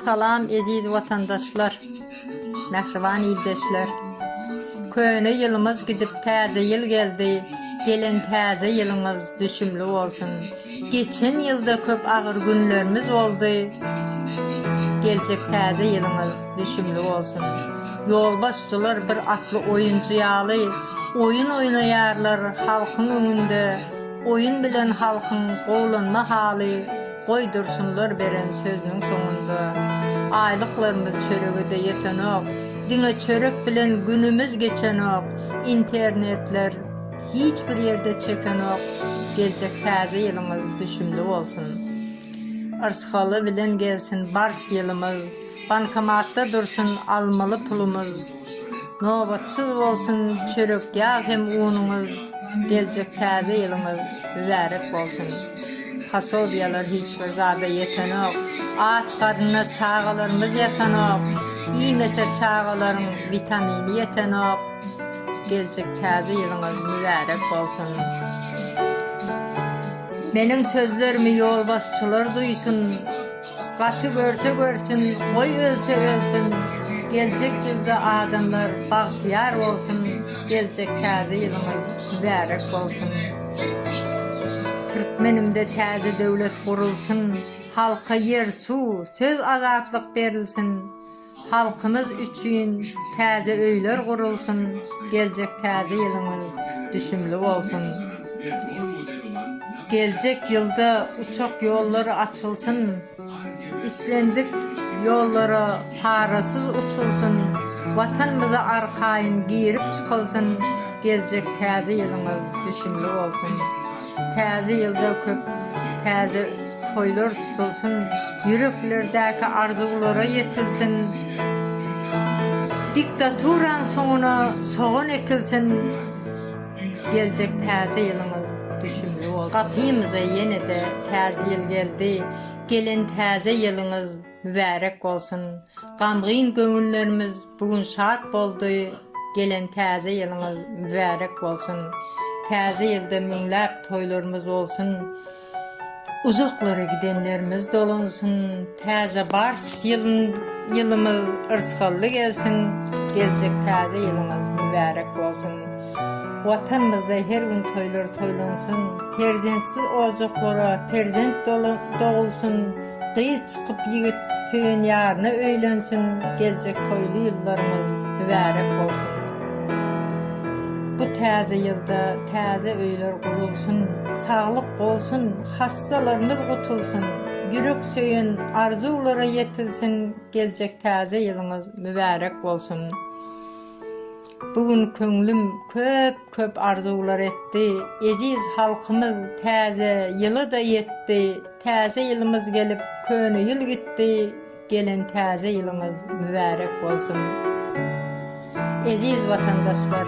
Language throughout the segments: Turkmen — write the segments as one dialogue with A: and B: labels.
A: Salam eziz watandaşlar, mähriban ildeşler. Köne ýylymyz gidip täze ýyl geldi, gelen täze ýylyňyz düşümli bolsun. Geçen ýylda köp agyr günlerimiz boldy, geljek täze ýylyňyz düşümli bolsun. Ýolbaşçylar bir atly oýunçy ýaly oýun oýnaýarlar, halkyň öňünde Oýun bilen halkyň gowlanma haly goý dursunlar beren sözüniň soňunda Aýlyklarymyz çörege-de ýetenok, diňe çörek bilen günümiz geçenok, internetler hiç bir ýerde çekenok, geljek täze ýylyňyz düşümli bolsun. Yrsgaly bilen gelsin bars ýylymyz. Bankomatda dursun almaly pulumyz Nobatsyz bolsun çörek ýag hem unuňyz Geljek täze ýylyňyz mübärek bolsun Posobiýalar hiç bir zada ýetenok Aç garnyna çagalarymyz ýatanok Iýmese çagalaryň witamini ýetenok Geljek täze ýylyňyz mübärek bolsun Meniň sözlerimi ýolbaşçylar duýsun. Gaty görse görsün goý ölse ölsün geljek ýylda adamlar bagtyýar bolsun geljek täze ýylyňyz mübärek bolsun Türkmenimde täze döwlet gurulsyn halka ýer suw söz azatlyk berilsin Halkymyz üçin täze öýler gurulsyn, geljek täze ýylyňyz düşümli bolsun! Geljek ýylda uçak ýollary açylsyn, islendik ýollara parasyz uçulsyn, Watanymyza arkaýyn girip çykylsyn, geljek täze ýylyňyz düşümli bolsun! Täze ýylda köp täze Toýlar tutulsyn, ýüreklerdäki arzuwlara ýetilsin, diktaturanyň soňuna sogan ekilsin, geljek täze ýylyňyz düşümli bolsun! Gapymyza ýene-de täze ýyl geldi, gelen täze ýylyňyz mübärek bolsun! Gamgyn göwünlerimiz bu gün şat boldy, gelen täze ýylyňyz mübärek bolsun! Täze ýylda müňläp toýlarymyz bolsun! Uzaklara gidenlerimiz dolunsyn, täze bars ýylymyz yrsgally gelsin, geljek täze ýylyňyz mübärek bolsun. Watanymyzda her gün toýlar toýlansyn, perzentsiz ojaklara perzent dogulsyn. Gyz çykyp ýigit söýen ýaryna öýlensin geljek toýly ýyllaryňyz mübärek bolsun bu täze ýylda täze öýler gurulsyn saglyk bolsun hassalarymyz gutulsyn ýürek söýen arzuwlara ýetilsin geljek täze ýylyňyz mübärek bolsun. Bu gün köňlüm köp köp arzuwlar etdi, Eziz halkymyz täze ýyla-da ýetdi, Täze ýylymyz gelip köne ýyl gitdi, Gelen täze ýylyňyz mübärek bolsun! Eziz watandaşlar,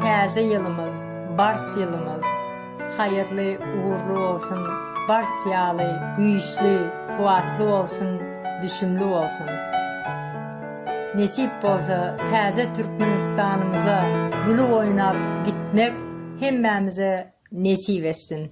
A: täze ýylymyz, bars ýylymyz. Haýyrly ugrly bolsun bars ýaly güýçli kuwatly bolsun düşümli bolsun nesip bolsa täze Türkmenistanymyza güli oýnap gitmek hemmämize nesip etsin.